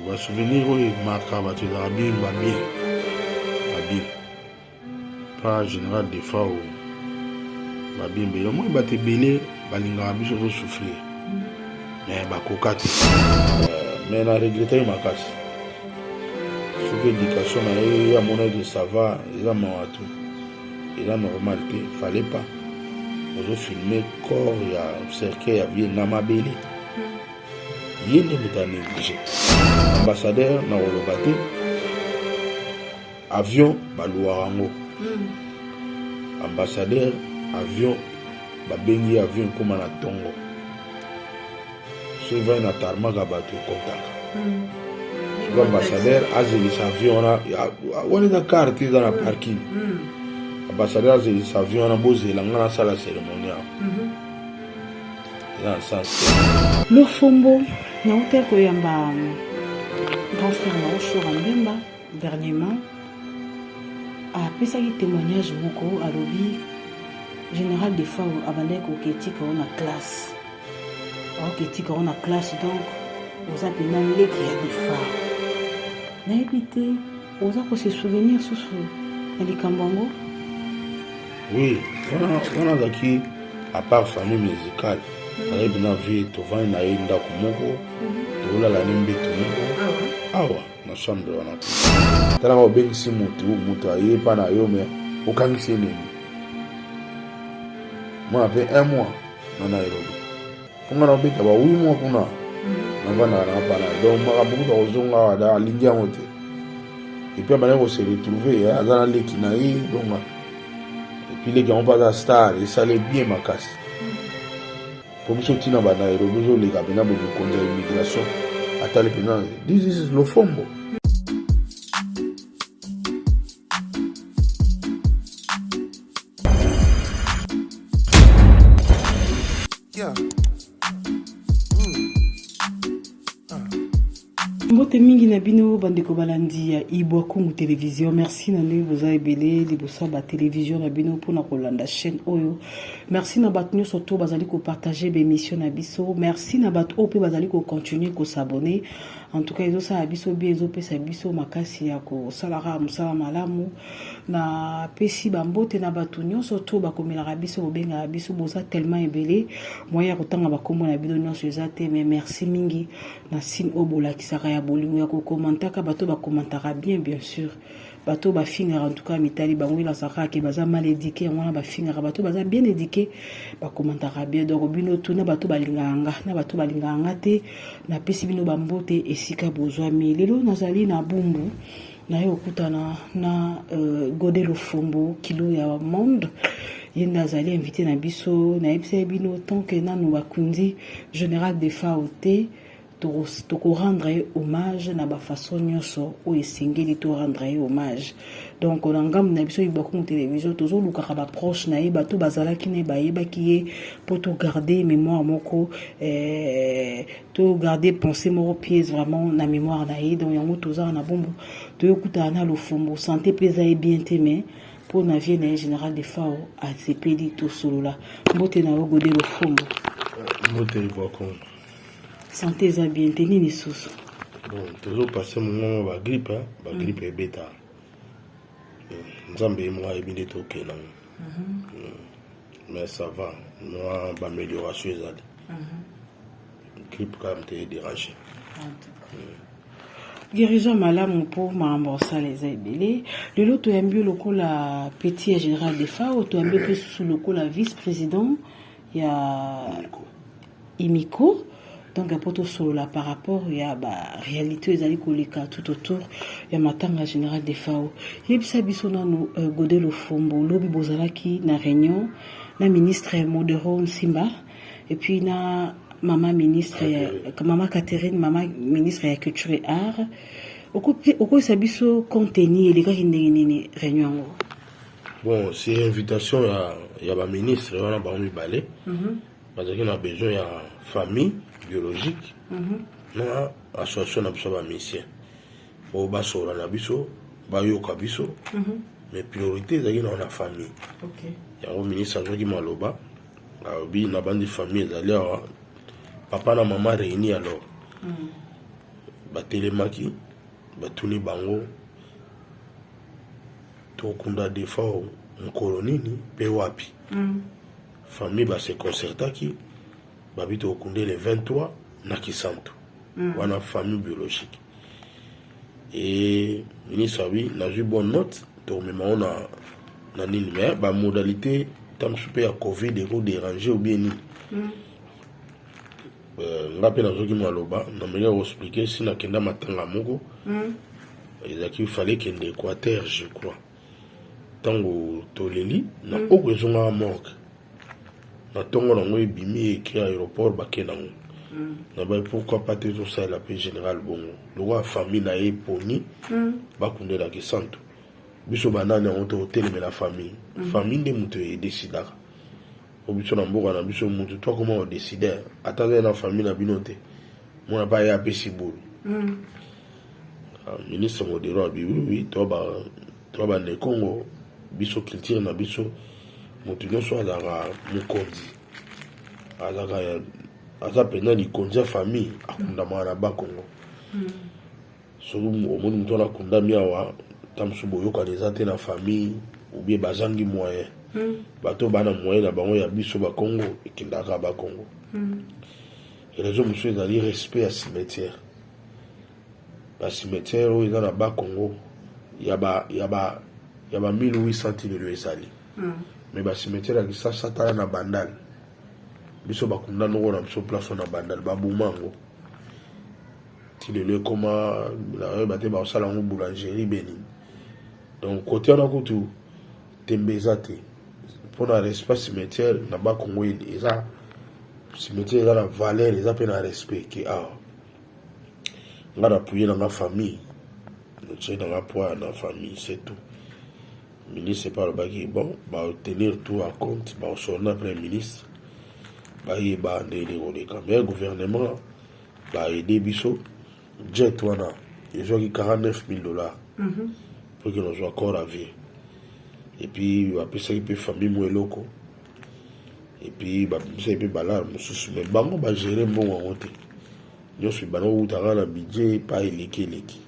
ba souvenir oyo emaka bato ezalaka bien babie babie pa général defao babie mbele omoi bato ebele balingaka biso tozosouffrir me bakoka te me na regretaki makasi soki éducation na ye amonaki sava eza mawa tu eza normal te fallait pas ozofilme corps ya cercueil ya vie na mabele ye nde moto a néglige ambassadeur na koloba te avion baluwaka yango hmm. ambassadeur avion babengi avion ekóma na ntongo soki vai na tarmaka bato ekontaka hmm. soki ambassadeur azelisa avion wana wana eza karte eza na parking hmm. ambassadeur azelisa avion wana bozela ngai nasala cérémonie yango lofombo nauta koyamba grand frère na oshora mbemba dernièrement apesaki témoignage moko alobi général de fau abandaki koketika o na classe aoketika o na classe donc oza mpena leki ya defar nayebi te oza ko se souvenir susu na likambo yango oui wana azalaki apart famille musicale mhm. ayebi na vie tovandi na ye ndako moko mhm. tolala ne mbeto moko ah awa na chambre wana talaka obengisi motu motu aye epa na yo me okangisi enemi mwana mpe un mois na nairobi mpo ngai nakobeta ba wi mwa kuna navandaka na bana donc makambo kuta kozonga awa da alingi yango te epuis abandaki kose retrouve eh, aza na leki na ye donc epuis leki yango mpe aza star esali bien makasi mpo biso ntina banairobi ezoleka mpenza bomikonzi ya immigration atali mpenza this is lofombo Yeah. mbote mingi na bino bandeko balandi ya ibwa kungu television merci na ndenge boza ebele liboso ya batelevision na bino mpona kolanda chaîne oyo merci na bato nyonso to bazali kopartage baémission na biso merci na bato oyo mpe bazali kocontinue kosabone en tout cas ezosala biso bien ezopesa biso makasi ya kosalaka mosala malamu na pesi bambote na bato nyonso to bakomelaka biso kobengaka biso boza tellement ebele moyen ya kotanga bakombo na bino nyonso eza te mais merci mingi na sine oyo bolakisaka ya bolingo ya kokomantaka bato bakomantaka bien bien sûr bato bafingaka en tout cas mitali bango ye nazwa kaka ke baza mal éduqué yango wana bafingaka bato baza bien éduqué bakomantaka bien donc bino tu na bato balingaka nga na bato balingaka nga te napesi bino bambote esika bozwami lelo nazali na bumbu naye kokutana na euh, gode lofombo kilo ya monde ye nde azali invité na biso nayebisaki bino tant que nanu bakundi général defao te toko rendre ye hommage na bafaçon nyonso oyo esengeli to rendre ye hommage donc na ngambo na biso ibakungu télévision tozolukaka baproche na ye bato bazalaki na ye bayebaki ye mpo togarde mémoire moko eh, togarde pensée moko pièce vraiment na mémoire na ye donc yango tozala na bombo toyokutana na lofombo santé mpe eza ye bien te mais mpo na vie na ye général de fao asepeli tosolola mbote na yo gode lofombo mbote ibakungu Santé eza bien te nini susu? Bon, tozo passer mongongo ba grippe, hein? ba grippe mm. ebeta. Mm. Nzambe ye moko ayebi nde tokela. Mm -hmm. mm. Mais ça va, mwa ba amélioration ezali. Mm -hmm. Grippe quand même te déranger. En tout cas. Mm. guérison malamu mpo makambo osala eza ebele lelo toyambi yo lokola petit ya général defa oyo toyambi mpe susu lokola vice président ya et micro donc ya mpo tosolola par rapport ya baréalité oyo ezali koleka tout autour ya matanga général de fao yebisa biso nano euh, gode lofombo lobi bozalaki na réunion na ministre modero nsimba epuis na mama ministre ya mama catherine mama ministre ya culture et art okoyisa biso contenu elekaki ndenge nini réunion yango bon c'est invitation ya, ya baministre wana bango mibale mm -hmm. bazalaki na besoin ya famille biologique mhm. na association na biso ya bamisien oyo basola na biso bayoka biso mhm. mais priorité ezalaki nao na famille yango ministre azwaki maloba alobi na bandi famille ezali awa papa na mama réuni alors mhm. batelemaki batuni bango tokunda defao mokolo nini mpe wapi Famille ba se concertaki babi tokokunde le 23 na Kisantu mm. wana famille biologique et ministre abi nazwi bonne note tokomema ngo na na nini mais bamodalité ta mosusu mpe ya covid ekoderange obie nini mm. euh, nga mpe nazoki maloba nameli ya koexplike si nakenda matanga moko mm. ezalaki fale kende équateur je crois ntango toleli na mm. oko ezongaka morgue na ntongo nango ebimi ekri aéroport bake nango mm. na bai pourquoi pas te ezosalela mpe général bongo lokola famille na ye eponi mm. bakundelaki santu biso banani yango tokotelemela famille famille nde moto edesidaka po biso na mboka na biso moto to akoma odeside ata kaka na famille na bino te mwana pa ye apesi bulu hmm. ah, ministre modero abiwiwi to bande congo biso culture na biso moto nyonso azalaka mokonzi azalaka aza mpenza likonzi ya famille akundamaka na bakongo hmm. soki omoni moto wana akundami awa ta mosusu boyokani eza te na famille obie bazangi moyen hmm. bato bana moyen na bango ya biso bakongo ekendaka bakongo hmm. Raison mosusu ezali respect ya cimetière. Ba cimetière oyo eza na ba Congo ya ba ya ba ya ba 1800 tilelo ezali. Mm. Mais ba cimetière ya Kisasa tala na Bandal. Biso bakunda noko na biso place na Bandal ba boma ngo. Tilelo ekoma na yeba te ba sala ngo boulangerie beni. Donc côté wana kutu Tembe eza te pona respect cimetière na ba Congo ini eza cimetière eza na valeur eza pe na respect ke awa nga na puye na nga famille notie na nga poa na famille c'est tout ministre epa alobaki bon baotenir tout à compte baosona premier ministre bayeba ndenge koleka mais gouvernement baede biso jet wana ezwaki 49000 dollars mhm. mpo kino ozwa corps à vie epuis bapesaki mpe famille mo eloko epuis bapesaki mpe balare mosusu mai bango bagere mbongo yango te nyonso ebanda kowutaka na budget epa eleki eleki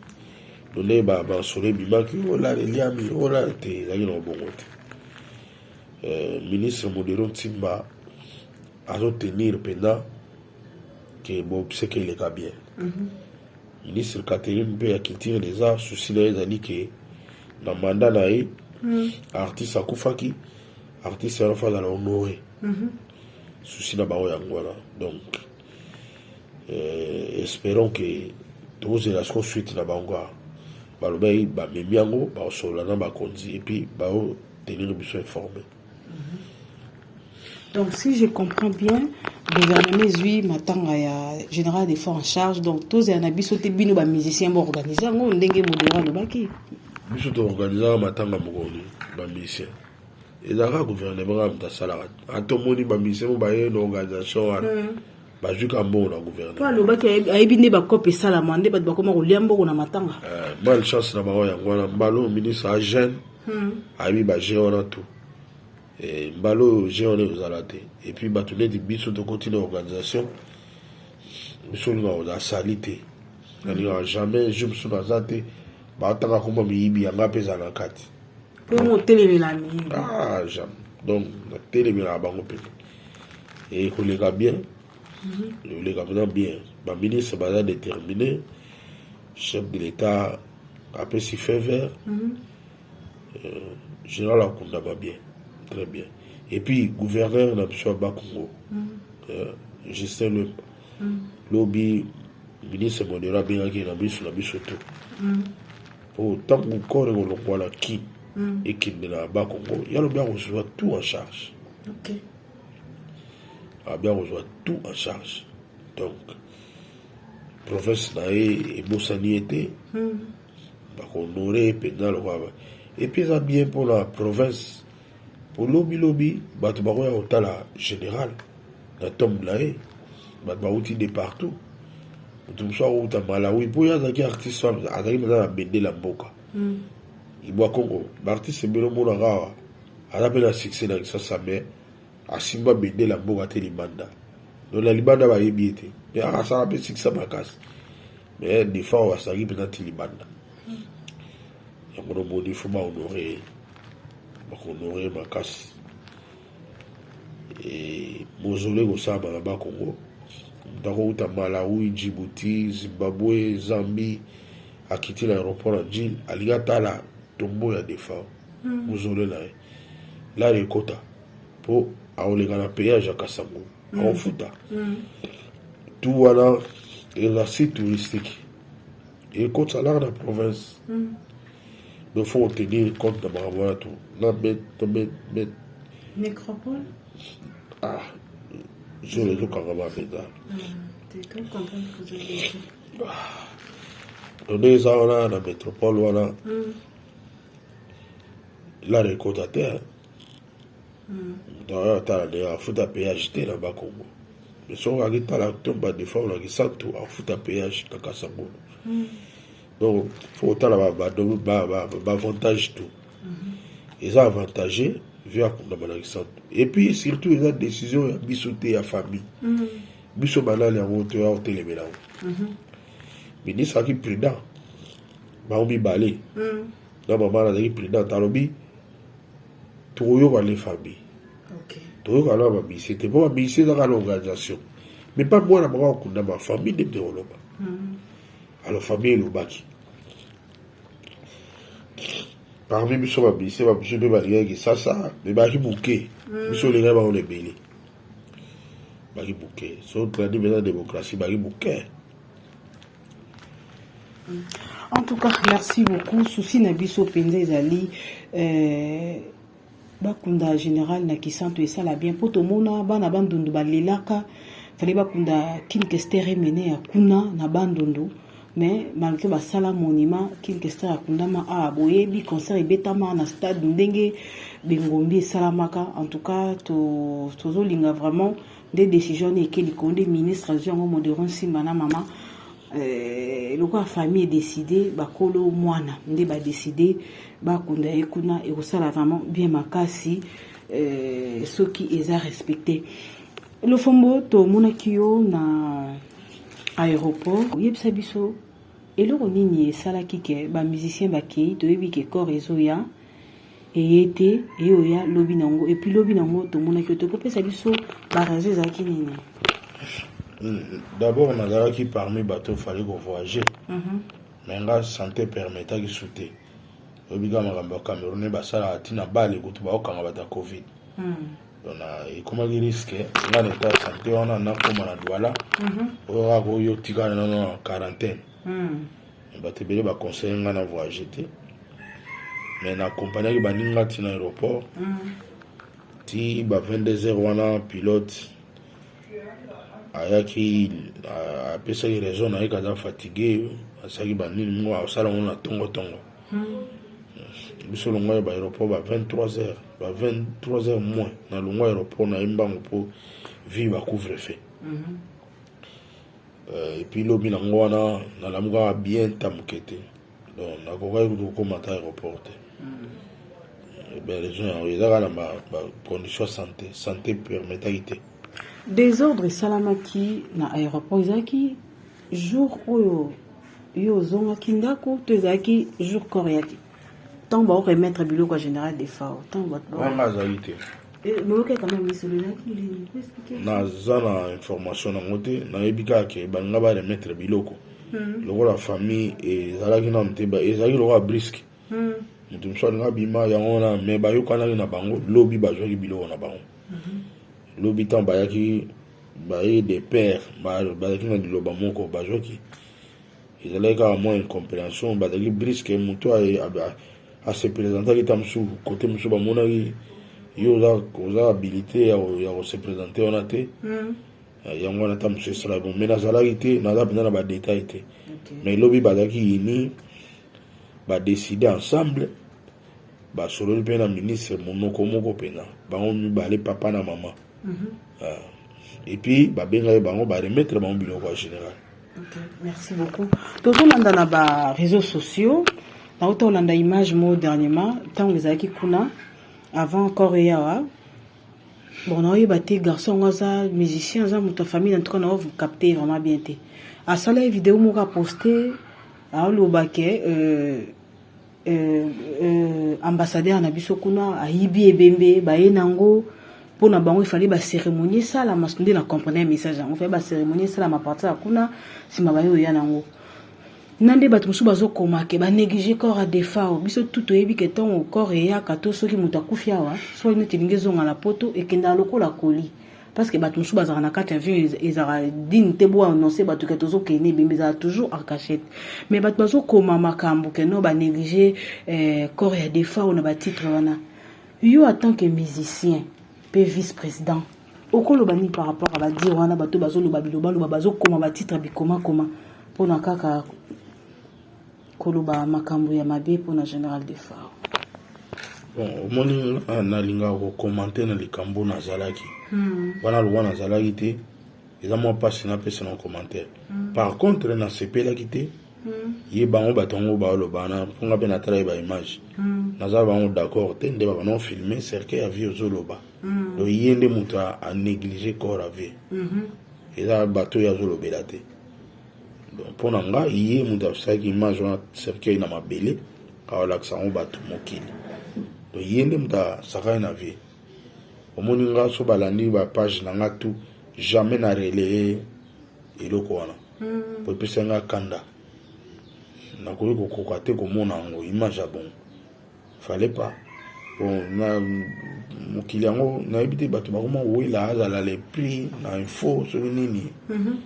donde bansolo ebimaki olala eliami olala te ezalaki na kobongo te euh, ministre modero ntimba azotenir mpenza ke bobseke eleka bien mhm. ministre catherine mpe ya culture des arts souci na ye ezali ke na manda na ye mhm. artiste akufaki artiste wana fo azala honore mhm. souci na bango yango wana donc euh, espérons ke tozela siko suite na bango a balobaki bamemi yango bakosolola na bakonzi epuis baotenir biso informe Donc, si je comprends bien, le gouvernement ezui matanga ya général des forces en charge. Donc, tous les anabis sont bino ba musiciens bo organiser ngo ndenge modera le baki. Biso to organiser matanga moko ni ba musiciens. ezalaka gouvernement kaka moto asalaka ata omoni bamisemo baye na organisation wana hmm. bazwi ka mbongo na gouvernement alobaki ayebi nde bakope esalama nde bato bakoma kolia mbongo na matanga eh, mal chance na bango yango wana mbalo ministre agene hmm. ayebi ba jeu wana tout eh, mbala oyo jeu wana ekozala te epuis bato neti biso tokoti na organisation biso olingaka kozala sali te nalingaka jamais jour biso naza te batanga komba miyibi yanga mpe ezala na kati mpo otelemela miyibi ah, jamais donc natelemelaka bango mpe ekoleka bien loleka mpenza bien baministre baza détermine chef de l'état apesi fait vert mhm. euh, général akundama bien très bien et puis gouverneur na biso ya bakongo mhm. euh, justin lemba mhm. lobi ministre modero abengaki na miso na biso to mpo ntango corps ekolongwa na kin ekende na bakongo ya lobi akozwa tout en charge okay. abi akozwa tout en charge donc province na ye ebosani ye te hmm. bakohonore ye mpenza lokola epuis eza bien mpona province mpo lobilobi bato bakoya kotala général na tombe na ye bato bauti de partout moto mosusu akouta malawi mpo ye azalaki artiste azalaki mpenza na bendela mboka hmm. ibwa congo baartiste ebele omonaka awa aza mpe na succès na Kinshasa mais asimba bendele ya mboka te libanda donc na libanda bayebi ye te mais asala mpe succès makasi mais defa oyo asalaki mpenza ti libanda yango nomoni fo bahonore ye bakohonore ye makasi mozole kosalama na bakongo moto akouta malawi djibouti zimbabwe zambie akiti na aéroport ya jile alingi atala tombo ya defa hmm. ozolela ye lari ekota mpo akoleka na payage ya kasango hmm. akofuta hmm. tu wana eza site touristique ekotisa lari na province donc faut tenir compte na makambo wana to na bet to bet bet nécropole ah zolo ezokanga ba mpenza donde eza wana na métropole wana mm. lare ekota te daya atala nde afuta payage te na bakongo soki akitala to badefa na kisantu afuta payage na kasangulu hmm. donc fo otala baavantage tout hmm. eza avantage vie akundama na kisantu epuis surtout eza décision ya biso te ya famille hmm. biso banani yango toya kotelemela yango ministre aki prudent bango mibale mm. na mama na azalaki prudente alobi tokoyoka les famille okay. toyoka na bamisi te mpo bamisi ezaka na organisation mais mpa mwana bango akundama famille nde mpe koloba mm. alors famille elobaki parmi biso bamisi bamisu mpe balingaki kisasa me baki moke mm. biso olingaki bango na ebele baki moke so tlandi mpenza démocratie baki moke En tout cas, merci beaucoup. Souci na biso penza ezali euh, bakunda général na kisanto esala bien mpo tomona bana bandundu balelaka fale bakunda kinkester emene ya kuna na bandundu mais malgré basala monument kinkester akundama awa ah, boyebi concert ebetama na stade ndenge bengombi esalamaka en tout cas tozolinga to vraiment nde decision wana eke likolo nde ministre azwi yango modero nsimba na mama eh, lokola famille edeside bakolo mwana nde badeside bakunda ye kuna ekosala vraiment bien makasi eh, soki eza respecte lofombo tomonaki yo na aéroport oyebisa biso eloko nini esalaki ke bamusicien bakei toyebi ke corps ezoya eye te eye oya lobi na yango epuis lobi na yango tomonaki yo te kopesa biso barazo ezalaki nini d'abord nazalaki parmi bato fallait kovoyage mhm. me nga santé permetaki su te oyebi kaka makambo ya cameroune basalaka ntina bale kutu baokanga bato ya covid hmm. donc ekomaki riske nga na etat ya santé wana nakoma na douala mhm. oyo kaka oyo otikana nano na quarantaine hmm. bato ebele baconseille ngai na voyage te mais na accompagnaki baninga ti na aéroport mm. ti ba 22 heures wana pilote ayaki apesaki raison na ye kaza fatigue asalaki banini mingo asala yango na tongotongo mm. biso longwa ya baaéroport ba 23 heures ba 23 heures moins na longwa aéroport na ye mbango mpo vie bacouvre fait mm -hmm. Euh, epuis lobi nango wana nalamukaka bien ta moke te donc nakokaki kutu kokoma ata aéroport te hmm. eh raison yango eza kaka na bacondition ya santé santé permetaki te désordre esalamaki na aéroport ezalaki jour oyo yo ozongaki ndako to ezalaki jour corps yaki ntango baoremettre biloko ya général defao ntango bato azali te naza na information nango te nayebi kaka ke balinga ba remettre biloko hmm. lokola famille ezalaki nanu te ezalaki lokola briske hmm. moto mosusu alinga bima yango wana me bayokanaki na bango lobi bazwaki biloko na bango hmm. lobi ntango bayaki baye de père bazalaki na liloba moko bazwaki ezalaki kaka mwa incomprehension bazalaki briske moto ase presentaki ta mosusu kote mosusu bamonaki yo oza habilite ya kose presente wana te hmm. eh, yango wana ta mosusu esala bon mai nazalaki te naza mpenza na badetail te mai lobi bazalaki yini badeside ensemble basololi mpe na ministre monoko moko mpenza bango mibale papa na mama mhm. ah. epuis babengaki bango baremettre bango biloko ya général Okay, merci beaucoup. Tozolanda na ba réseaux sociaux. Nauta olanda image mo dernièrement ntango ezalaki kuna avant encore eyawa bon naoyeba te garçon yango aza musicien aza moto ya famille en tout cas nao vous capte vraiment bien te asala ye video moko aposte aoloba ke euh, euh, euh, ambassadeur na biso kuna ayibi ebembe baye nango mpo na bango efali bacérémonie esalama nde na comprendre ya message yango efali bacérémonie esalama partir ya kuna nsima baye oya nango na nde bato mosusu bazokoma ke banéglige corps ya defao biso tu toyebi ke ntongo corps eyaka to soki moto akufi awa soki neti elingi ezonga na poto ekendaka lokola koli parce que bato mosusu bazalaka na kati ya avion ezalaka digne te bo annonce bato ke tozokende ebembe ezalaka toujours en cachette mais bato bazokoma makambo ke no banéglige eh, corps ya defa oyo na batitre wana yo atant que musicien mpe vice président okoloba nini par rapport ya badire wana bato bazoloba bilobaloba bazokoma batitre bikomakoma mpona kaka koloba makambo ya mabe mpo na general defao bon omoni ah, nalingaka kokomante na likambo nazalaki hmm. wana lowa nazalaki te eza mwa mpasi napesa na commentaire hmm. par contre nasepelaki te hmm. ye bango bato yango baoloba na mpo nga mpe natalaki baimage naza bango d'accord te nde babana ofilme cercueil ya vie ozoloba donc ye nde moto anéglige corps ya vie eza bato oyo azolobela te mpo na nga ye moto asalaki image wana cercueil na mabele aolakisa yango bato mokili to ye nde moto asakani na vie omoni nga so balandi bapage na nga tout jamais na relaye eloko wana hmm. po epesa nga kanda nakoki kokoka te komona yango image ya bongo fallait pas bon na mokili yango nayebi te bato bakoma kowela azala le prix na info soki nini mhm.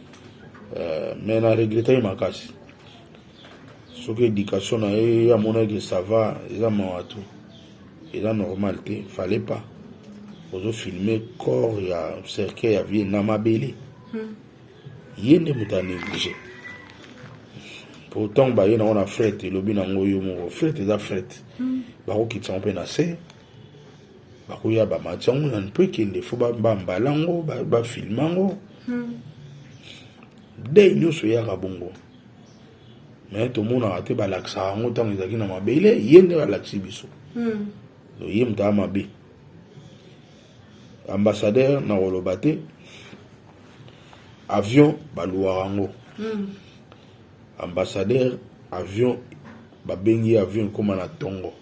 euh, mais na regreta ye makasi soki éducation na ye amonaki ça va eza mawa tout eza normal te fallait pas ozofilme corps ya cercueil ya vie na mabele hmm. ye nde moto a néglige po ntango baye nango na fret elobi nango yo moko fret eza fret hmm. bakokitisa yango mpe na se bakoya bamati yango na mpo ekende fo bambala yango bafilme yango hmm. dei nyonso eyaka bongo me tomonaka te balakisaka yango ntango ezalaki na mabele ye nde balakisi biso hmm. ye moto ya mabe ambassadeur na koloba te avion baluwaka yango mm. ambassadeur avion babengi avion ekóma na ntongo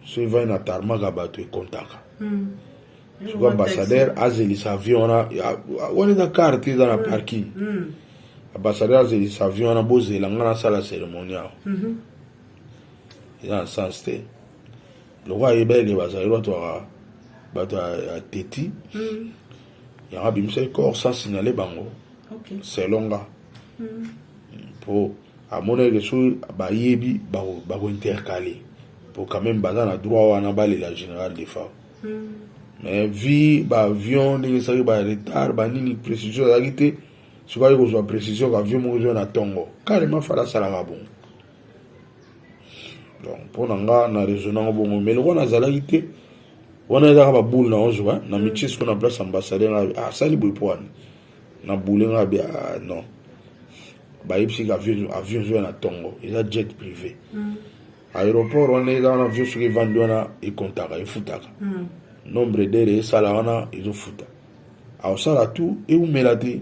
so evai na tarmaka bato ekontaka mm. soko ambassadeur azelisa avion wana wana eza carte eza na mm. parking mm. ambassadeur azelisa avion wana bozela ngai nasala cérémonie awa mm -hmm. eza na sens te lokola ayebaki ke bazali bato ya bato ya teti hmm. yango abimisaki corps sans signale bango selon nga mpo hmm. amonaki ke soki bayebi bakointercale mpo quand même baza na droit wana balela général de femme hmm. mais vi baavion ndenge esaki baretard banini précision ezalaki te soki aye kozwa précision kaavion moko ezwa na ntongo carrément fala asalaka bongo donc mpo na nga na raisonne yango bongo mais lokola nazalaki te wana ezaka baboule na ozwa na mitie siko na place ambassadeur nga ah, asali boye mpo wana na boule nga bi ah, non bayebisiki avion avion ezoya na ntongo eza jet privé mm. aéroport wana eza wana avion soki evandi wana ekontaka efutaka mm. nombre dere esala wana ezofuta aosala tout eumela te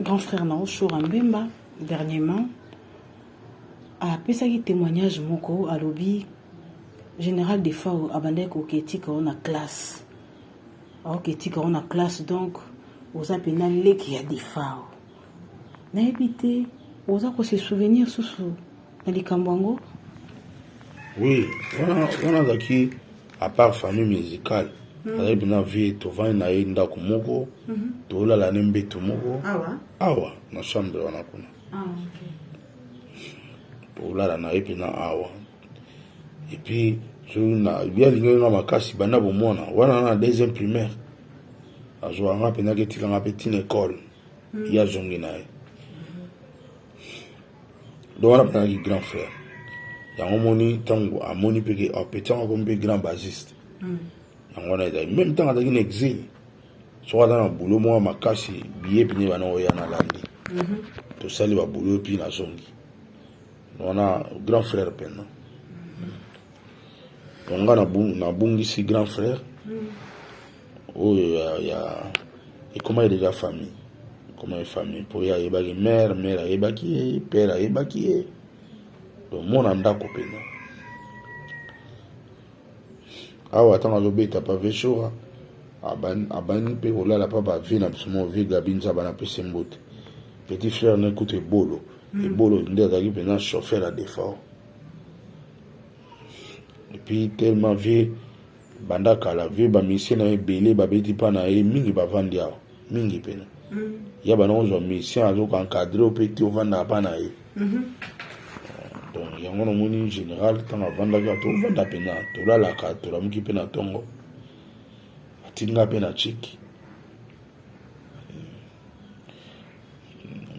grand frère na yo shora mbemba dernièrement apesaki témoignage moko alobi général de fao abandaki koketika yo na classe aoketika yo na classe donc oza mpena leki ya defao nayebi te oza kose souvenir susu na likambo yango oui wana wana azalaki apart famille musicale hmm. azali mpena vie tovandi na ye ndako moko hmm. tolala ne mbeto moko awa na chambre wana kuna ah, tolala na ye mpena awa epuis soki alingaki nga makasi banda bomona wana na deuxième primaire azwaka nga mpenzaki etikanga mpe tina ekole ye azongi na ye donc wana bazalaki grand frère yango omoni ntango amoni mpe ke oh, petit yango akomi mpe grand basiste hmm. yango wana ezali meme ntango azalaki na exil soki aza na bulo moko makasi biye mpine bana oya nalandi mhm. tosali babulo yo mpine azongi wana grand frère mpena donc nga nabungisi grand frère mm. oyo ya, ya ekoma eleka famille ekoma ye famille mpo ye ayebaki mare mare ayebaki ye pere ayebaki ye mona ndako mpena awa ntango azobeta pave shora abandi mpe kolala mpa bavi na biso mo vi gabi nzaba na pese mbote petit frère na ekuta ebolo hmm. ebolo nde azalaki mpenza chauffeur ya defort epuis tellement vie Banda kala vie ba musiciens na ebele ba beti pa na ye mingi ba vandi awa mingi pena. Mm. Ya bana ozwa musicien azo ko encadrer pe ti ovanda pa na ye. Mm -hmm. Donc yango na moni général tanga vanda ka to vanda pena to la la ka to la muki pena tongo. Atinga pena chiki.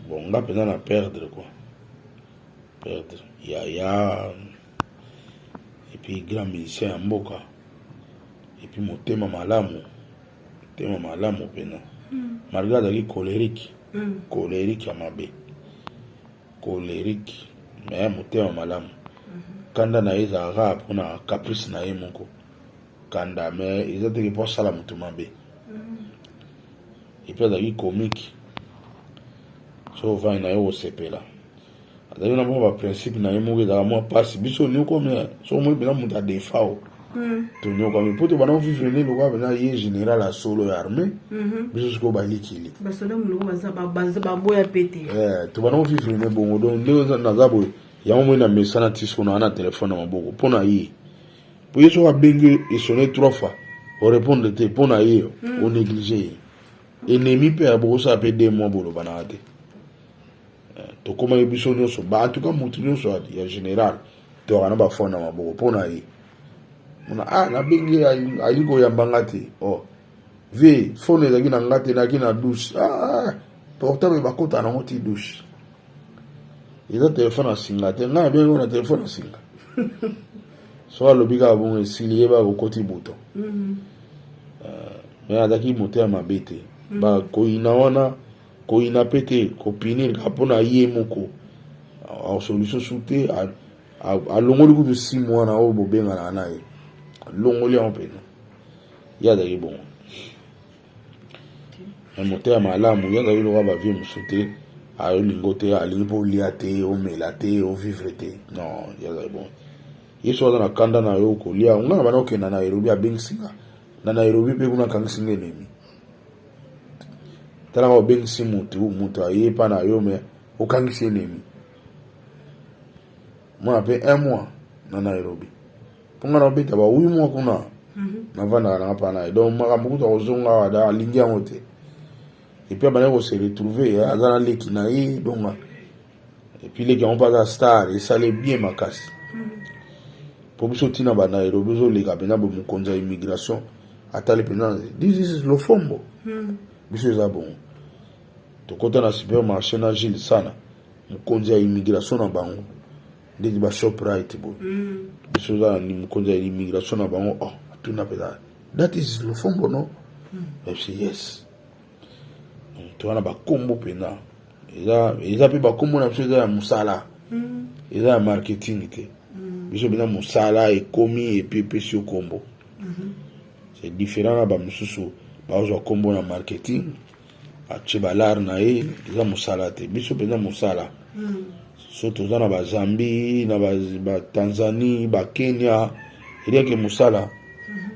Bon nga pena na perdre quoi. Perdre. Ya ya epuis grand musicien ya mboka epuis motema malamu motema malamu mpena hmm. malgre azalaki colerique hmm. colerique ya mabe colerique me motema malamu hmm. kanda na ye ezalaka mpona caprice na ye moko kanda me eza teke mpo asala moto mabe epuis azalaki comique so ovandi na ye okosepela azali na mwa ba principe na ye moko ezalaka mwa mpasi biso onyokwami soko moi mpena moto adefa o hmm. tonyokwami mpo tobanda ovivre nde lokola mpena ye général ya solo ya armée hmm. biso sikoyo balikili eh, tobanda ovivre nde bongo donc ndenge naza boye yango moi na mesana ti sikoyo naa na telefone na maboko mpo na ye mpo ye soko abengi esone trois fois orépondre te mpo na ye onéglige hmm. ye enemi mpe abokosala mpe de mois bolobanaka te eh, tokomaki biso nyonso ba en tout cas motu nyonso ya général toyaka na bafone na maboko mpo na ye mona ah nabengi ye ali koyamba nga te oh vie fone ezalaki na nga te nayaki na douce ah, ah, ah. portable bakota nango ti douce eza telefone ya singa te ngai nabengi na telefone ya singa so alobi kaka bongo esili ye bakokoti buto mm-hmm. euh, me azalaki motema mabe te mm-hmm. bakoyina wana koyina pe te ko punir kaka pona ye moko solution su te alongoli kutu six mois na oyo bobenganaka na ye alongoli yango pena ye azalaki bongo na motema malamu ye azalaki lokola bavie mosusu te ayolingo te alingi mpo olia te omela te ovivre te non ye azalaki bongo ye soki aza na kanda na yo kolia nga na bana okenda na nairobi abengisi nga na nairobi mpe kuna akangisi nga enemi talaka obengisi mutu mutu aye epa na yo me okangisi enemi mwana mpe un mois na nairobi mpo ngai naobeta ba wi mois kuna mhm. navandaka nanga mpa na ye donc makambo kutu akozonga awa da alingi yango te epuis abandaki kose retrouve aza na leki na ye donga epuis leki yango mpe aza star esale bien makasi mpo biso ntina banairobi ezoleka mpenza bo mokonzi ya immigration atali mpenza this is lofombo hmm. biso eza bongo tokota na supermarché na gile sana mokonzi ya immigration na bango ndeti ba shoprite boye hmm. biso eza na mokonzi ya immigration na bango oh, atuna mpenza that is lofombo no hmm. yes to wana bakombo mpenza eza eza mpe bakombo na biso eza ya mosala mm. eza ya marketing te mm. biso mpenza mosala ekomi epi epesi yo kombo mm-hmm. c'est différent na bamosusu bazwa kombo na marketing atie balare na ye eza mosala te biso mpenza mosala mm. so toza na bazambi na batanzanie bakenya eliake mosala mm-hmm.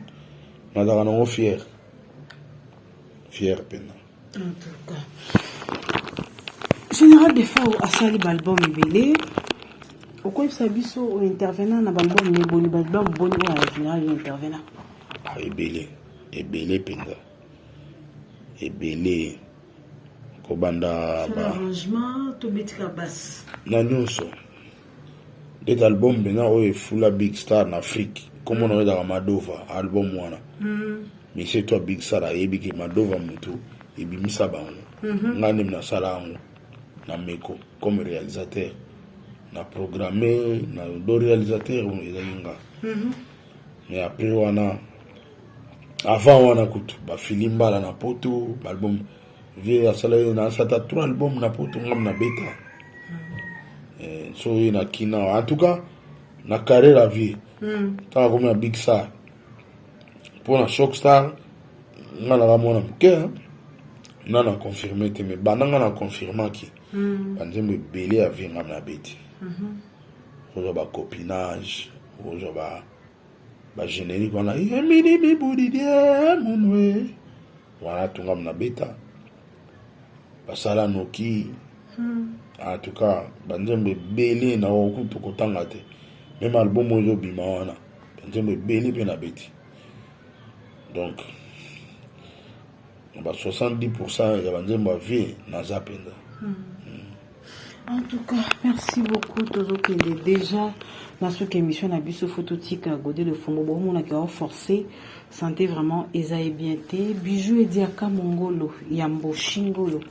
nazalaka nango fiere fier pena général defao asali baalbum ebele okoyebisa biso ointervenant na baalbum me boni baalbum boni oyo ya général yo intervenant ah, ebele ebele mpenza ebele kobanda ba... na nyonso ndeti album mpenza oyo efula big star na afrique nkombo na oyo ezalaka madova album wana hmm. misie to big star ayebi ke madova motu ebimisa bango mhm. ngai nde nasala yango na meko comme réalisateur na programme na do réalisateur ezali nga mhm. mais après wana avant wana kutu bafili mbala na poto baalbum vie asala ye na asata trois album na poto ngam na beta eh, so ye na kina en tout cas na carré la vie ntango akomi na big star mpo na shock star nga naka mwana moke nga na confirme te mais banda nga na confirmaki hmm. banzembo ebele ya vie nga na beti kozwa bacopinage kozwa ba ba générique wana yemini mibudidie munwe wana tunga mna beta basala noki hmm. en tout cas banzembo ebele na oyo kutu kotanga te meme album oyo ezobima wana banzembo ebele mpe na beti donc na ba 70 pourcent ya banzembo ya vie naza mpenza hmm. En tout cas, merci beaucoup. Tozokende déjà na soki émission na biso faut totika gode le fongo bo mona ki au forcer santé vraiment eza e bien te bijou et diaka mongolo ya mboshingolo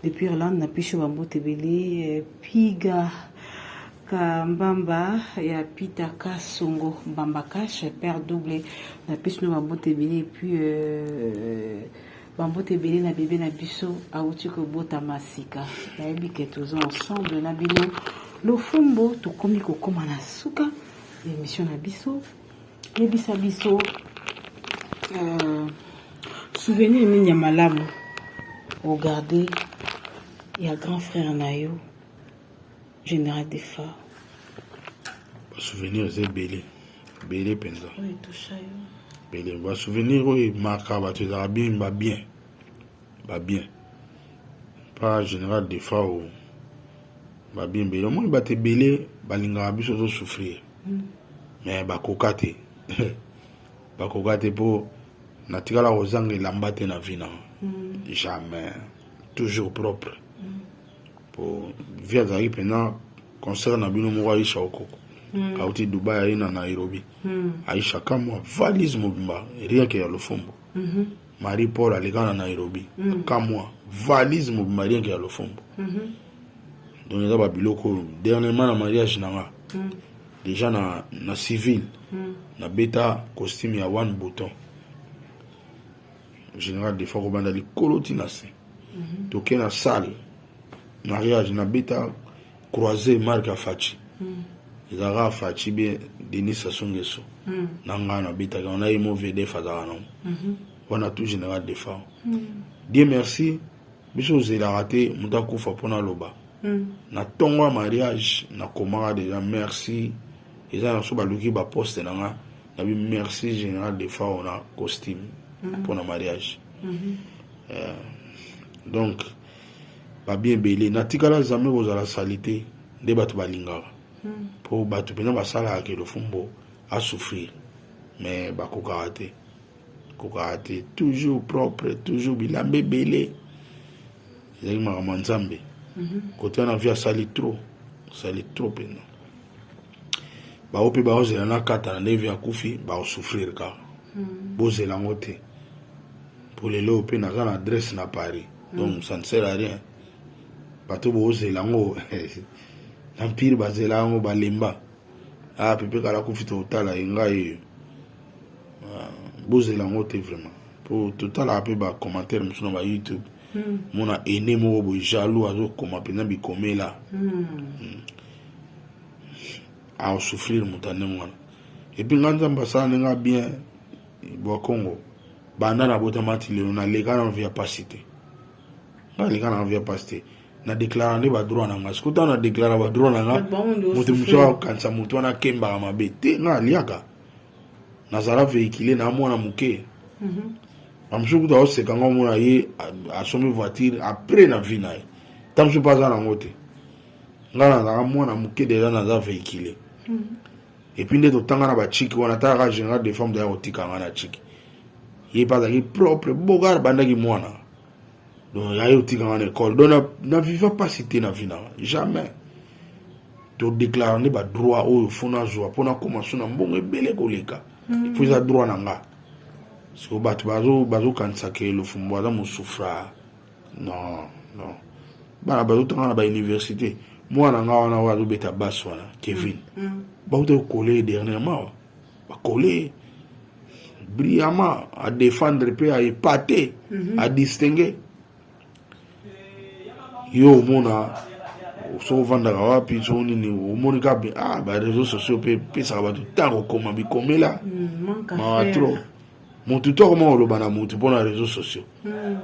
depuis Irlande na pisho ba mbote belé eh, piga ka mbamba ya Peter Kasongo mbamba cash père double na pisho ba mbote belé et puis euh, Bambote ebele na bebe na biso awuti kobotama sika nayebi ke toza ensemble na bino lofumbo tokomi kokoma na suka ya emission na biso yebisa biso uh, souvenir nini ya malamu ogarde ya grand frère na yo General Defa. Souvenir eza ebele ebele mpenza ebele basouvenir oyo emaka bato ezalaka bien babien babien pa général defa o babien ebele omoni bato ebele balingaka biso tozosouffrir hmm. mais bakoka te bakoka te mpo natikala kozanga elamba te na vina hmm. jamais toujours propre hmm. po vie azalaki mpena concert na bino moko aisha okoko mm. auti dubai aye na nairobi mm. aisha kamwa valise mobimba rieke ya lofombo mm -hmm. marie paul aleka na nairobi mm. kamwa valise mobimba rieke ya lofombo mm -hmm. donc eza babiloko oyo dernièrement na mariage na nga mm. déjà na, na civil mm. nabeta costume ya one bouton General Defa kobanda likolo ti na se. Mhm. Toke na salle mariage na beta croiser Marc Afachi. Mhm. Ezalaka Afachi be Denis Sassou Nguesso. Mhm. Na ngai na betaka on a eu mon VDF azalaka nango. Wana tout General Defa. Dieu merci biso ozelaka te moto akufa mpo naloba hmm. na ntongo ya mariage nakomaka deja merci eza na biso baluki baposte na nga nabi merci général de fao na costume mm -hmm. pona mariage mm -hmm. euh, donc babi ebele natikala zame kozala salite nde bato balingaka mpo mm -hmm. bato mpenza basalaka ke lofumbo asouffrir mais bakokaka te kokaka te toujours propre toujours bilamba ebele ezalaki makambo ya nzambe kote wana vi asali trop asali trop mpenza baope baozela na kata na ndenge ya kufi baosouffrir kaka hmm. bozela yango te mpo lelo mpe naza na adresse na paris hmm. donc ça ne sert à rien bato bozela yango na mpire bazela yango balemba a ah, pepe kala kufi totala ye ngai oyo ah, bozela yango te vraiment mpo totalaka mpe bacommentaire mosusu na ba youtube hmm. mona ene moko boye jaloux azokoma mpenza bikomela hmm. Hmm. a souffrir moto ya ndenge wana epuis nga nzambe asalani nga bien bwa congo banda nabotama ti lelo naleka na vie ya pasi te nga naleka na vie ya pasi te na deklara nde badroit na nga sikoyo ntango na deklara badroit na nga moto mosusu akanisa moto wana akembaka mabe te nga aliaka nazala véhicule na mwana moke mhm. bamosusu kutu aoseka nga omona ye asombi voiture apres na vie na ye ntango mosusu mpe aza nango te nga nazalaka mwana moke deja naza vehicule hmm. epuis nde totanga na bachiki wana ataka général de femme deya kotika nga na chiki ye mpe azalaki propre bogar bandaki mwana donc yaye otika nga na école donc na viva mpasi te na vi nanga jamais todéclare nde badroit oyo fo nazwa mpo nakoma so na mbongo ebele koleka hmm. po eza droit na nga siko bato bazokanisa ke lofumbo aza mosufra non non bana bazotanga na bauniversité mwana nga wana oyo azobeta bas wana kevin mm, mm. bauta kokole dernièrement bakole brillamment adefendre mpe aepate mhm. adistingue yo omona so ovandaka wapi so nini omoni ka ah, bareseau sociaux mpe pesaka bato ntango okoma bikomela mm, mawa trop mutu to akoma koloba na mutu mpo na réseau sociaux hmm.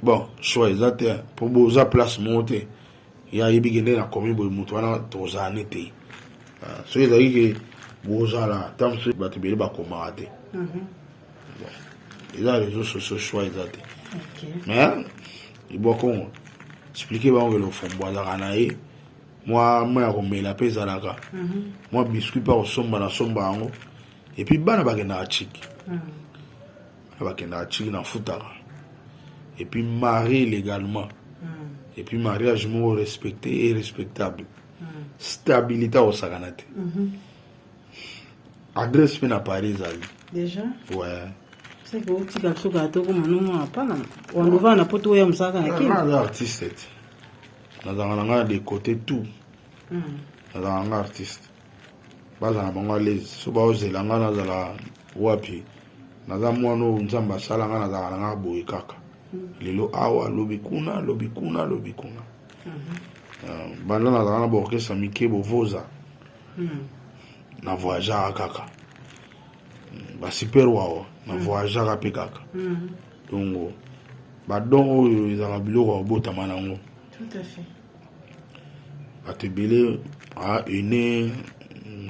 bon choix eza te mpo boza place moko te ya yebi kende na komi boye mutu wana tozala ne te ah, soki ezalaki ke bozala ntango mosusu bato ebele bakomaka te mhm. eza réseau sociaux choix eza te mais libwa kongo explike bango ke lofombo azalaka na ye mwa mwa ya komela mpe ezalaka mwa mhm. biscuit mpe akosomba na somba yango et puis bana bakendaka chiki hmm. bana bakendaka chiki nafutaka et puis marie légalement hmm. et puis mariage moko respecté et respectable hmm. stabilité akosakana te mhm. adresse mpe na paris ezali déjà ouais seke otika biso kaka tokoma nomo apana wandovaa na poto oya mosaka na kinaza artiste te nazanga na ngai na decote tout nazanga ngai artiste bazala na bango alezi so baozela ngai nazala wapi naza mwana oyo nzambe asala ngai nazalaka na ngai boye kaka hmm. lelo awa lobi kuna lobi kuna lobi kuna hmm. euh, banda nazalaka na baorkestre mike bovoza hmm. na voyageaka kaka basuper wawa na voyageaka mpe kaka dongo badon oyo ezalaka biloko ya kobotama na yango bato ebele ahaine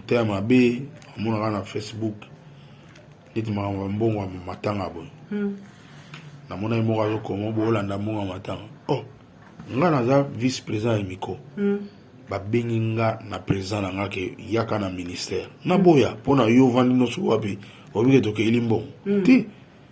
motema mabe amonaka na facebook neti makambo ya mbongo ya matanga boye hmm. namonaki moko azokoma boolanda mbongo ya matanga o oh, nga naza vice président ya miko hmm. babengi nga na président na nga ke yaka na ministère naboya mpo na yo ovandi nyonso wapi obike tokeli mbongo hmm. te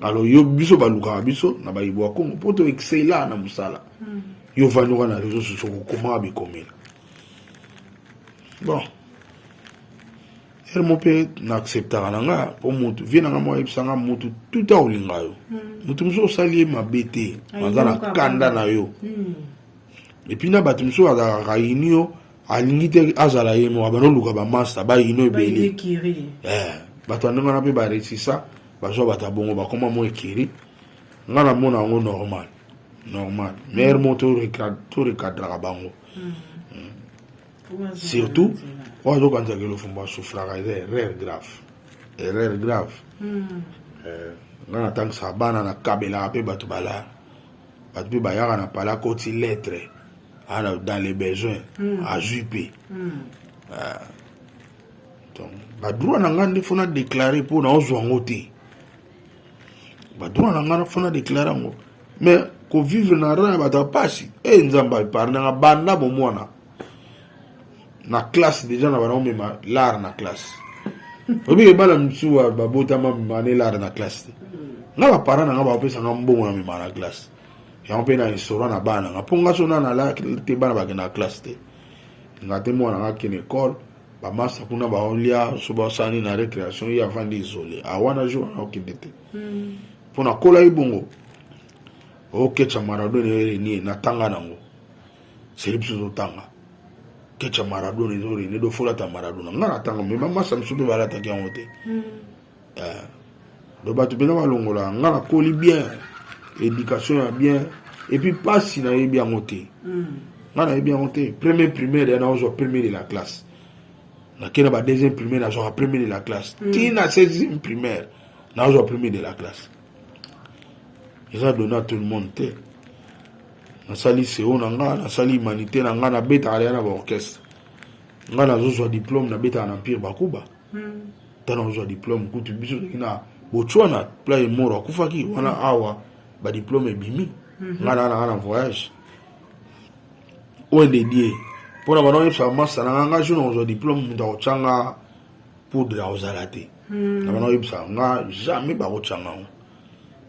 alors yo biso balukaka biso na bayibo ya congo mpo to excela na mosala hmm. yo vandi wana na réseau sociaux kokomaka bikomela bon ere mo mpe na acceptaka na nga mpo motu vie na nga moko ayebisa nga motu tuta olinga yo motu hmm. mosusu osali ye mabe te aza na kanda na yo epuis hmm. na bato mosusu azalaka kaini yo alingi te azala ye moko abanda oluka bamasta bayino ebele eh, bato ya ndenge wana mpe baresisa bazwa bato ya bongo bakoma mwa ekiri ngai namona yango normal normal maire mo torekadraka bango hmm. Hmm. surtout oyo azokanisa kelofumba asufraka eza erreur grave erreur grave hmm. eh, ngai natangisaka bana nakabelaka mpe bato balaya bato mpe bayaka na pala koti lettre ana dans les besoins mm. azwi mpe mm. ah. donc badroit na ngai nde fo na déclare mpo naozwa yango te badroit na ngai fo na déclare yango mais kovivre na ran ya bato ya mpasi e eh, nzambe aepargne nga banda bomwana na classe déjà na bana omema lare na classe oyebi ebala mosusu babotama mane lare na classe te nga baparent na nga bapesanga mbongo na mema na classe yango mpe na esora na bana na nga mpo nga so na nalaki te bana bakenda na classe te nga te mwana nga kende ekole bamasa kuna baolia so basani na récréation ye avandi isole awana jour wana okende te hmm. mpo nakolaki bongo okecha maradona erenie natanga nango seli biso totanga kecha maradona ezorenie dofolata maradona nga natanga me bamasa mosusu mpe balataki yango te hmm. eh, donc bato mpena balongola nga nakoli bien éducation ya bien epuis mpasi nayebi yango te mm. nga nayebi yango te premier primaire ya naozwa premier de la classe nakenda ba deuxième primaire nazwaka premier de la classe mm. ti na seizième primaire nazwa premier de la classe eza donna tout le monde te nasali seo na nga nasali humanité na nga nabetaka deya na baorchestre nga nazozwa diplôme nabetaka na empire bakuba tana ozwa diplome kutu biso toki na botswana pla ye moro akufaki wana hmm. awa badiplome ebimi hmm. ngai naa nanga na voyage oyo dedie mpo na bana oyebisa bamasta nanga ngai so nakozwa diplome moto akotyanga poudre akozala te hmm. na bana oyebisa nga jamais bakotyanga yango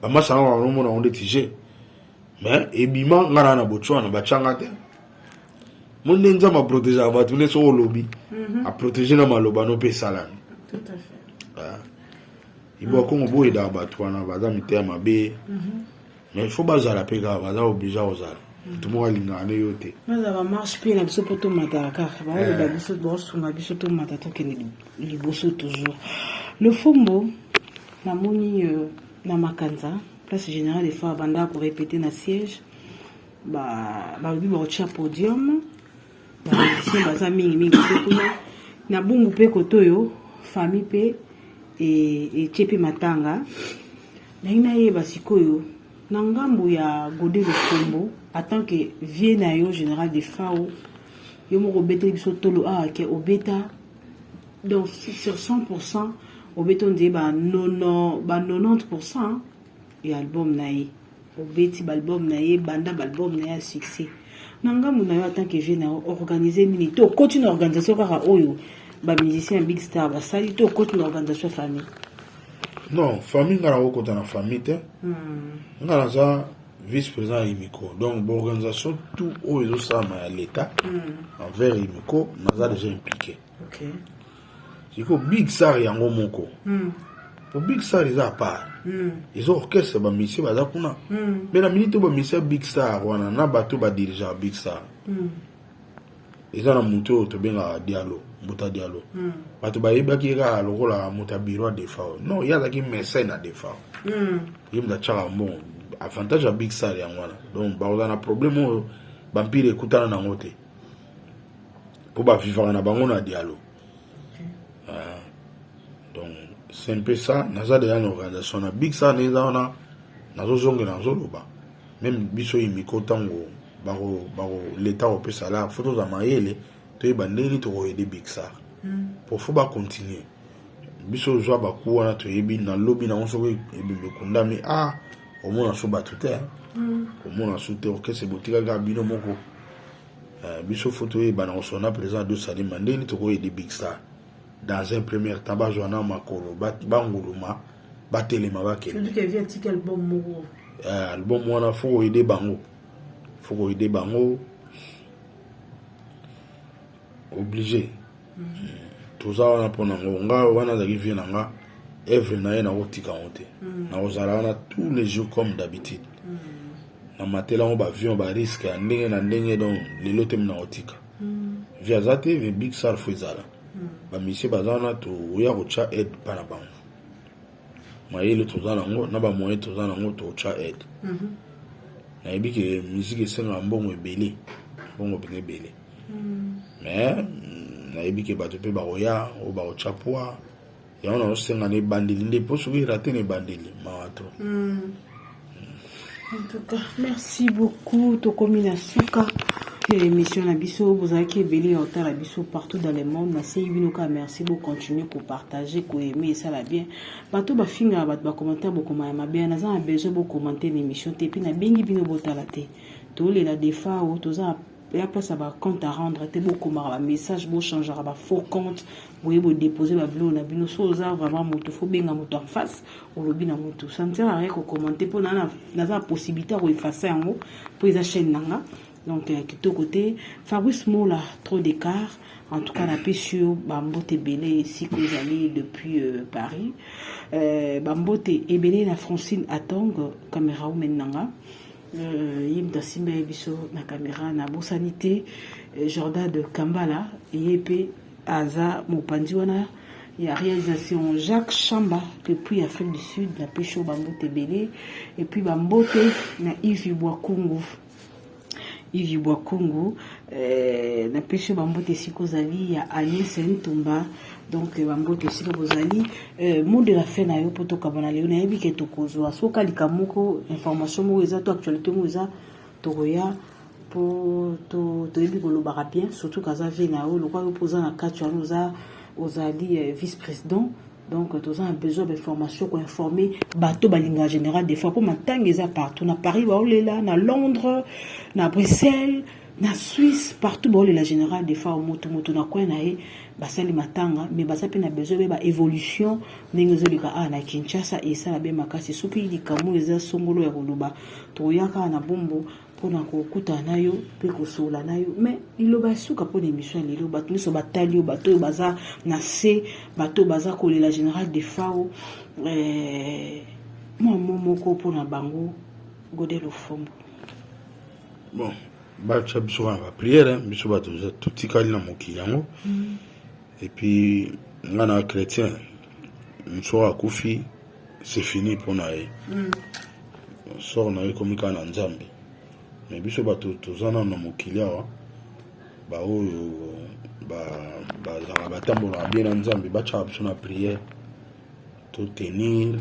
bamasta nanga banomona yango ndeti je mais ebima ngai naa na botswana batyanga te mo nde nzambe aprotegeaka bato nde soki olobi mhm. aprotege na maloba no mpe esalami ah. ibo ya kongo boyedaka bato wana baza miteya mabe mhm. mais il faut bazala mpe kaka baza oblige kozala mhm. moto moko alingaka nde yo te baza bamarche mpe na biso mpo tomataka kaka baoloba eh. biso baosunga biso tomata tokende liboso toujours lofombo namoni euh, na makanza place générale efo abandaka korepete na siège balobi bakotia podium bamusicien baza mingi mingi te kuna na bungu mpe koto oyo famille mpe etie mpe matanga naye nayeba sikoyo na ngambo ya gode lofombo atant que vie na yo général de fao yo moko obeteli biso tolo awa ah, ke obeta donc sur 100 pourcent obeta ondie ba 90 pourcent ya album na ye obeti ba album na ye banda ba album na ye ya succès na ngambo na yo en tant que jeune na organiser nini to okoti na organisation kaka oyo ba musicien ya big star basali to okoti na organisation ya famille non famille nga nakokota na famille te hmm. nga naza vice président ya imiko donc baorganisation tout oyo ezosalama ya l'état hmm. envers imiko naza déjà impliqué okay. siko big sar yango moko mm. po big sar eza apart mm. eza orchestre bamisie baza kuna mm. mpe na minute oyo bamisie ya big sar wana na bato badirige ya big sar mm. eza na moto oyo tobengaka dialo mbuta dialo mm. bato bayebaki ye kaka lokola moto ya biro ya defao non ye azalaki mesene ya defao mm. ye moto atyaka mbongo avantage ya big sar yango wana donc bakozala na problème oyo bampire ekutana nango te mpo bavivaka na bango na dialo ah, donc c'est un peu ça naza deja na organisation na big sa neza wana nazozongela nazoloba meme biso imiko ntango leta akopesa lar fo toza mayele toyeba ndenge nini tokoyede big sar hmm. po fo bacontinue biso ozwa baku wana toyebi na lobi nango soki ebimbe ekundami a ah, omona so bato te hmm. omona so te orchestre botikali kaka bino moko eh, biso fo toyebana kosona président de salima ndenge nini tokoyede big star dans un premier temps bazwa na makolo banguluma batelema bakende eh, album wana fo koyede bango fo koyede bango oblige toza wana mpo na ngo nga wana azalaki vie na nga evre na ye nakotika yango te mm. nakozala wana tous les jours comme d'habitude mm. na matela yango baavion bariske ya ndenge na ndenge donc lelo te minakotika mm. vi aza te vi big sar fo ezala bamisie baza wana toya kotya aide mpa na bango mayele toza nango na bamoyen toza nango totya aide mhm. nayebi ke miziki esengaka mbongo ebele mbongo mpenza ebele mhm. mais mm, nayebi ke bato mpe bakoya oyo bakotya pwa yango nazosenga na ebandeli nde mpo soki erate na ebandeli mawa to mhm. En tout cas, merci beaucoup. Tokomi na suka ya émission na biso bozalaki ebele ya otala biso partout dans le monde nasengi bino kaka merci bocontinue kopartage koaime esala bien bato bafingaka bato bacommentaire bokoma ya mabe naza na besoin bocommante na émission te mpe nabengi bino botala te tolela defao toza ya place ya ba compte à rendre te bokomaka ba message bochangaka ba faux compte boye bodepose babiloko na bino so oza vraiment moto fo benga moto en face olobi na moto ça ne sert à rien kokommente mpo naza na possibilité ya koefase yango mpo eza chaîne na nga donc euh, kitoko te fabrice mola trop d'écart en tout cas napesi yo bambote ebele esika ozali depuis euh, paris euh, bambote ebele na francine atong camera women na nga Euh, ye moto asimba ye biso na kamera nabosani te euh, jordan de kambala ye mpe aza mopanzi wana ya réalisation jacques chamba depuis afrique du sud na pesho bambote ebele epuis bambote na ivi bwakungu ivi bwakungu eh, na pesho bambote esika ozali ya agnese ntumba donc euh, bamboto esika bozali euh, mot de la fin na yo mpo tokabana lelo nayebi ke tokozwa soki alika moko information moko eza to actualité moko eza tokoya mpo toyebi kolobaka bien surtout kaza vie na yo lokola yo mpo oza na kati wana oza ozali euh, vice président donc toza na besoin bainformation koinforme bato balinga général des fois mpo matanga eza partout na paris baolela na londres na bruxelles na Suisse partout baolela la général de fao mutu mutu na coin na ye basali matanga mais baza pe na besoin be ba évolution ndenge ezoleka awa na Kinshasa esala be makasi soki likambo eza songolo ya koloba tokoya kaka na bombo mpona kokutana na yo mpe kosola na yo mais liloba ya suka mpo na émission ya lelo bato nyonso batali yo bato oyo baza na se bato oyo baza kolela général de fao eh, mwa mo moko mpo na bango godel ofombo bon batya biso wana bapriere biso bato totikali na mokili yango mm. epuis nga na chrétien mosoko akufi c'est fini mpo na ye mm. sor na ye ekomi kaka na nzambe me biso bato toza nano na mokili awa baoyo bazalaka batambolaka bie na nzambe batyaka biso na priere totenir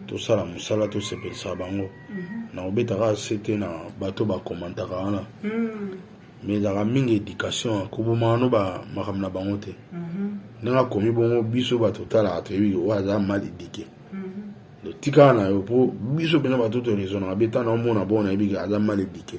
tosala mosala tosepelisa bango mhm. na kobetaka se te na bato bakomantaka wana mhm. me ezalaka mingi éducation kobomano makambo na bango te mhm. ndenge akomi bongo biso bato otalaka toyebi oyo aza mal édike totikala na yo mpo biso mpenza bato toresonaka beta na omona bongo nayebi aza mal édike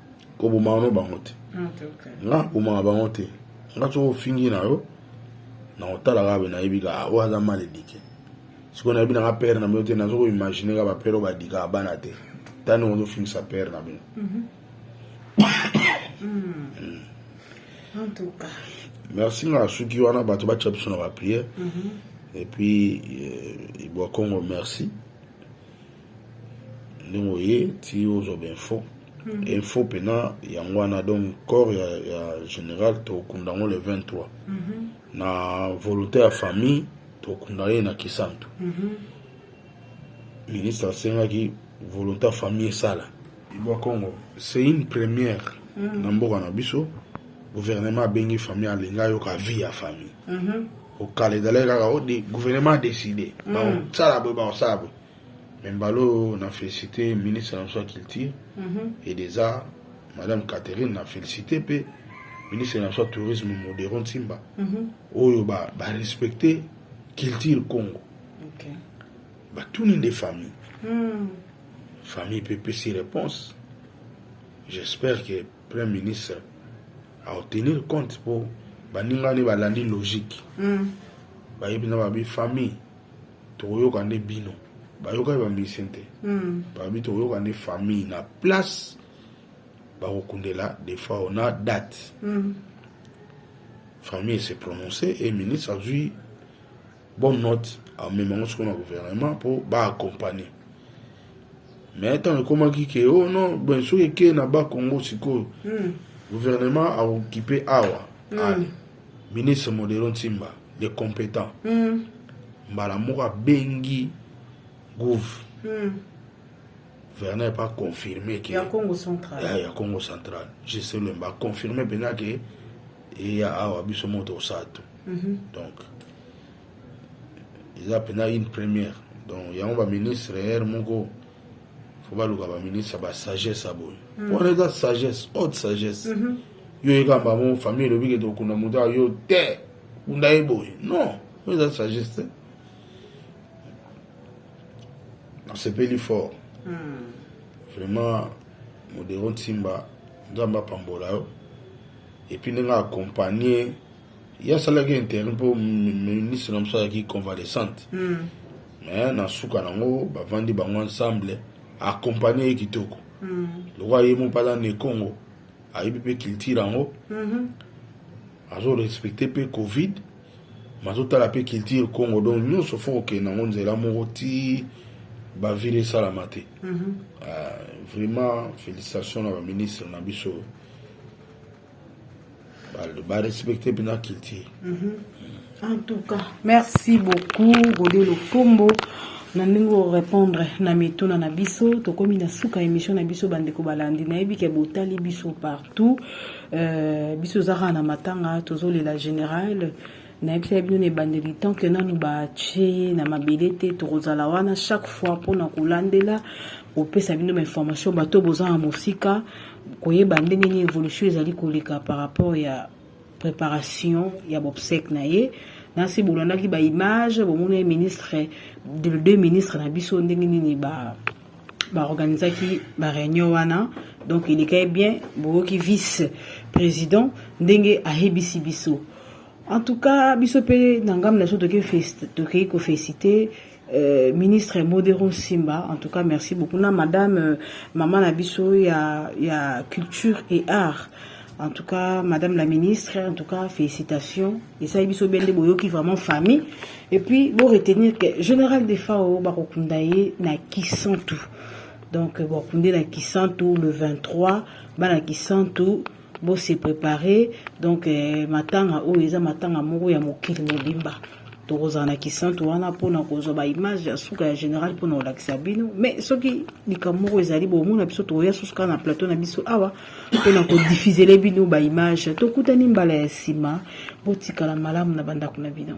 kobomaka no bango te nga kobomaka bango te nga soki ofingi na yo na kotala kaka nayebi ka ah, oyo aza mal edike sikoyo nayebi nanga pere na bino te nazo koimagine ka bapere oyo badikaka bana te tani ozofingisa pere na bino mhm. hmm. merci nga suki wana bato batya biso na bapriere mhm. epuis eh, ibwa congo merci ndenge oye ti ozwa bainfo hmm. info mpena yango wana donc corps ya, ya général tokunda yango le 23 mm -hmm. na volonté ya famille tokunda ye na kisantu mm -hmm. ministre asengaki volonté ya famille esala ibwa congo c'est une première mm -hmm. na mboka na biso gouvernement abengi famille alingi ayoka vie ya famille mm -hmm. okala ezalaki kaka ode gouvernement adécide bakosala boye bakosala boye Mais Mbalo, on a félicité ministre de la Culture et des Arts, Madame Catherine, on a félicité pe ministre de la Tourisme Modero Nsimba, oyo ba, ba respecter culture Congo. Okay. Ba tout des familles. Mm. Famille peut pécer réponse. J'espère que Premier ministre a obtenu compte pour baningani balandi logique. Mm. Bayebi na babi famille. tokoyoka nde bino bayokaki ba musicien te babi tokoyoka nde famille na place bakokundela defao na date famille se prononce et ministre azwi bonne note amema yango sikoyo na gouvernement mpo baaccompagne mais ntango ekomaki ke o oh non ben soki ekei na bakongo sikoyo gouvernement akokipe awa ale Ministre Modero Nsimba, le competent, mm. mbala moko abengi gouv mm. Werner pas confirmé que ya Congo central ya, ya Congo central je sais le ba confirmé penza que eya awa biso moto osatu mm -hmm. donc eza penza une première donc yango ba ministre ere moko fo baluka ba ministre ba sagesse aboye mm. wana eza sagesse haute sagesse mm -hmm. yo yeka bango famille elobi ke tokunda moto ya yo te kunda ye boye non oyo eza sagesse te nasepeli fort hmm. vraiment modero nsimba nzambe apambola yo epuis ndenge accompagne ye asalaki intérêt mpo ministre na mosu azalaki convalescente hmm. mais na suka nango bavandi bango ensemble accompagne ye kitoko hmm. lokola ye mo mpe aza na ekongo ayebi mpe culture yango mhm. azo respecte mpe covid mazotala mpe culture congo donc nyonso fo kokende yango nzela moko ti bavile esalama te mhm. ah, vraiment félicitation na baministre na biso barespecte mpe na culture mm -hmm. en tout cas merci beaucoup gode lokombo na ndenge orépondre na mituna na biso tokomi na suka émission na biso bandeko balandi nayebi ke botali biso partout euh, biso oza kaka na matanga tozolela général nayebisaki bino na ebandeli tant ke nanu batye ye na mabele te tokozala wana chaque fois mpona kolandela kopesa bino bainformation bato boza na mosika koyeba ndenge nini évolution ezali koleka par rapport ya preparation ya bobsèque na ye na se bolandaki ba image bomoni ye ministre de deux ministre na biso ndenge nini ba baorganisaki bareunion wana donc elekaki bien boyoki vice président ndenge ayebisi biso en tout cas biso mpe na ngambo na biso tokei kofesite Euh, ministre Modero Simba, en tout cas merci beaucoup. Na madame euh, maman na biso ya ya culture et art. En tout cas, Madame la Ministre, en tout cas, félicitations. Et ça, il bende boyo qui vraiment famille. Et puis, vous retenir que Général Defao, Barokundaye, na qui sent tout. Donc, euh, Barokundaye, na qui sent tout, le 23, Bana qui sent tout, bo se préparer donc eh, matanga oyo eza matanga moko ya mokili mobimba tokozala na kisantu wana mpona kozwa baimage ya suka ya général mpona kolakisa bino mais soki likambo moko ezali bomona biso tokoya susu kaka na plateau na biso awa mpona kodifizele bino baimage tokutani mbala ya nsima botikala malamu na bandako na bino